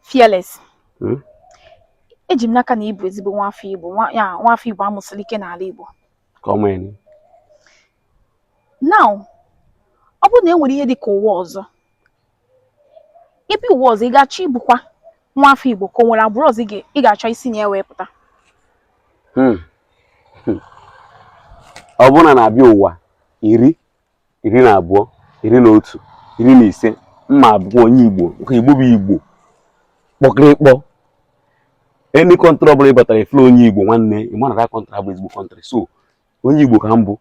Fearless. Hmm? Eji m n'aka na ị bụ ezigbo nwa afọ Igbo, nwa afọ Igbo a mụsịrị ike n'ala Igbo. Come in. Now, ọ bụrụ na e nwere ihe dị ka ụwa ọzọ, ị bịa ụwa ọzọ ị ga-achọ ịbụkwa nwa afọ Igbo ka o nwere agbụrụ ọzọ ị ga-achọ isi na ya wee pụta. Hmm. Hmm. Ọ bụrụ na a na-abịa ụwa iri iri na abụọ iri na otu iri na ise m ma-abụ onye igbo nke igbo bụ igbo kpọkịrịkpọ any country ọbụla ị batara ị fụrọ onye igbo nwanne ị ma na that country abụ ezigbo country so onye igbo ka m bụ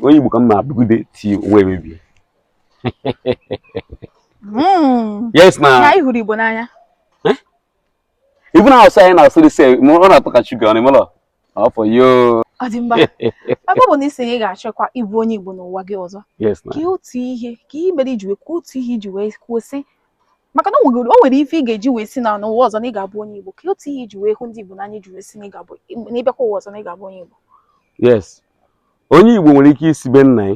onye igbo ka m ma-abụgide till ụwa emebie hmm. yes na ị hụrụ igbo n'anya even asụsụ anyị na-asụ dị sef ọ na-atọ ka sugar ọ na-emelọ Ọ for you. Ọ dị mma. Ebe ọ bụ na ị sị na ị ga-achọkwa ịbụ onye Igbo n'ụwa gị ọzọ. Yes na. Kwuo otu ihe kwuo ihe mere i ji wee kwuo otu ihe i ji wee kwuo sị maka na o nwere ife ị ga-eji wee sị na n'ụwa ọzọ na ị ga-abụ onye Igbo kwuo otu ihe i ji wee hụ ndị Igbo n'anya i ji wee sị na ị ga-abụ na ị bịakwa ụwa ọzọ na ị ga-abụ onye Igbo. Yes. Onye Igbo nwere ike isi be nna ya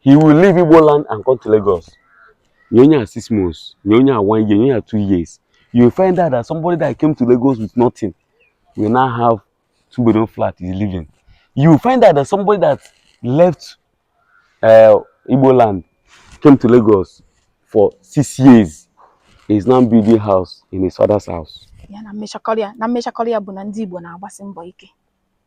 He will leave Igbo land and come to Lagos. Nye onye a six months, nye onye a one year, nye onye a two years. You will find out that somebody that came to Lagos with nothing will now have two bedroom flat is living. You will find out that somebody that left uh, Igbo land came to Lagos for six years is now building house in his father's house. Ya na mmechakọrịa na mmechakọrịa bụ na ndị Igbo na-agbasi mbọ ike.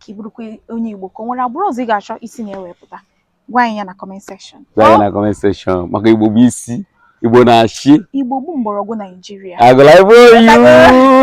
ka ị bụrụkwa onye Igbo ka o nwere agbụrụ ọzọ ị ga-achọ isi na ya wee pụta gwa anyị ya na comment section gwa anyị na comment section maka Igbo bụ isi Igbo na-achị Igbo bụ mgbọrọgwụ Naijiria agụla ibe oyiwu